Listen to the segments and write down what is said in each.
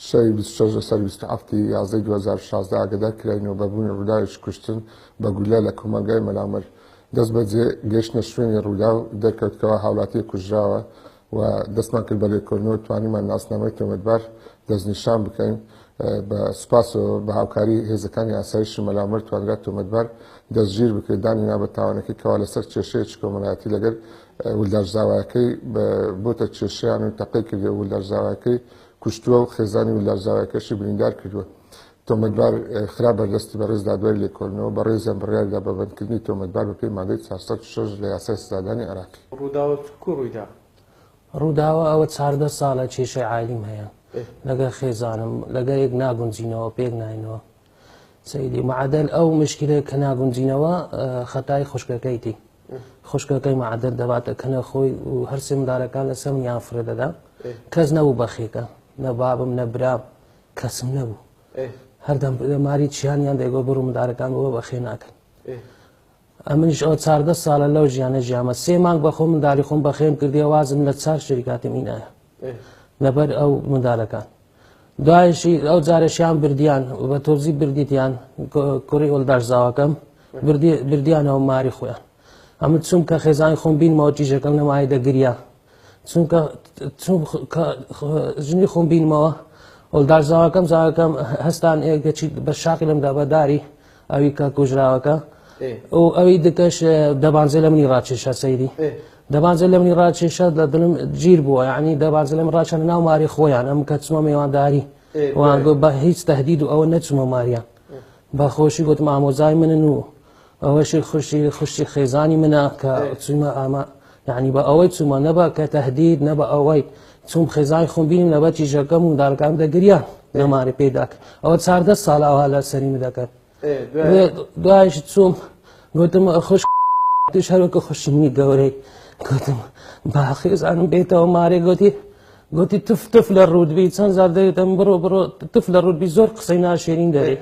شەوی بیست و شەش لەسەر بیست و هەفت ی یازدەی دوو هەزار و شازدە ئاگەدار کراینەوە بە بوونی ڕووداوێکی کوشتن بە گوللە لە کۆمەڵگای مەلامەر دەست بەجێ گەیشتنە شوێنی ڕووداو دەرکەوتکەوە هاوڵاتییەک کوژراوە و دەستمان کرد بە لێکۆلنەوە توانیمان ناسنامەی تۆمەتبار دەستنیشان بکەین، بە سوپاسەوە بە هاوکاری هێزەکانی ئاسایشی مەلامەر توانرا تۆمەتبار دەستگیر بکرێت، دانی نا بە تاوانەکەی کەوا لەسەر کێشەیەکی کۆمەلایەتی لەگەر ولداش زاواکەی بۆتە کێشەیان و تەقەی کردوە و ولداش زاواکەی کوشتوە و خێزانی ولداش زاواکەشی بریندار کردوە. تۆمەتبار خرا بەردەستی بەڕێز دادوەری لێکۆلنەوە، بەڕێزیان بڕیار دا بە بەندکردنی تۆمەتبار بەپێی مادەی چوار سەد و شەش لە یاسای سزادانی عێراقی. ڕووداوە چکو ڕوویدا ڕووداوە ئەوە چاردە ساڵە کێشەی عایلیم هەیە لەگەر خێزانم لەگەرێک ناگونجینەوە پێک ناینەوە سەیری معدل ئەو مشکلێک کە ناگونجینەوە خەتای خوشکەکەیتی خوشکەکەی معدل دەباتە کەنە خۆی و هەرسێ مندارەکان لە سەم یان فرە دەدا کەس نەبوو بەخێکە نە بابم نە برام کەسم نەبوو هەردەم ماری چیانیان دەگۆ بڕ مندارەکان بۆ بەخێ ناکەن ئەمنیش ئەوە چاردە ساڵە لەو ژیانە ژیامە سێ مانگ بە خۆ منداڵی خۆم بەخێم کردێ وازم لە چاک شریکاتم ئینایە لەبەر ئەو مندالەکان دوایشی ئەو جارەشیان بردیان بە تۆزی بردیتیان کوڕی ئۆلداش زاواکەم بردیانەوە ماری خۆیان ئەمە چوم کە خێزانی خۆم بینمەوە تیژەکەم نەمای دەگریا چونکە ژنی خۆم بینمەوە ئەولدار زاواکەم زاواکەم هەستان ئێگەچی بە شاقی لەم دابەداری ئەوی کە کوژراوەکە ئەو ئەوی دکەش دەبانزێ لە منی ڕاکێشە سەیری دەبانزە لە منی ڕاکێشە لە دڵم گیر بووە ینی دەبانزە لەم ڕاچەن ناو ماری خۆیان ئەم کە چمە میێوانداری وانگۆ بە هیچ تهدید و ئەوە نەچمە ماریان بەخۆشی گوتم ئامۆزای منن و ئەوەشی خوشی خوشی خێزانی منە کە چوومە ئامە یعنی بە ئەوەی چوومە نەبا کە تهدید نە بە ئەوەی چوم خێزای خۆم بینیم لە بەچی ژەکەم و دارگام دەگریا لەماری پێداک ئەوە چاردە ساڵاوا لە سەریم دەکەن دوایش چوم گوتم خوش توش هەروکە خوشمی گەورەی گوتم باخێزانم بێتەوە مارێ گوتی گوتی تف تف لە ڕوودبی چەند زار دەێتم بڕۆ بڕۆ تف لە ڕوودبی زۆر قسەی ناشێرین دەێت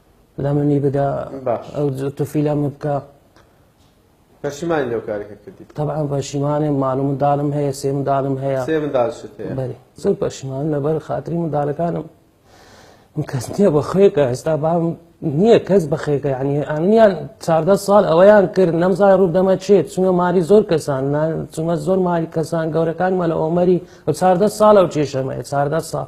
لە منی بدە ئەو تفیلە من بکە پەشیمانی لەو کارێکە کردی طبعا پەشیمانێ مال و منداڵم هەیە سێ منداڵم هەیە سێ منداڵشت هەیە بەێ زۆر پەشیمان لەبەر خاتری منداڵەکانم من کەس نییە بە خێکە ئێستا بام نییە کەس بە خێکە ینی ئەنیان چاردە ساڵ ئەوەیان کرد نەمزای ڕوو دەمە چێت چونە ماری زۆر کەسان چونە زۆر ماری کەسان گەورەکان مەلە ئۆمەری و چاردە ساڵە و کێشەمەیە چاردە ساڵ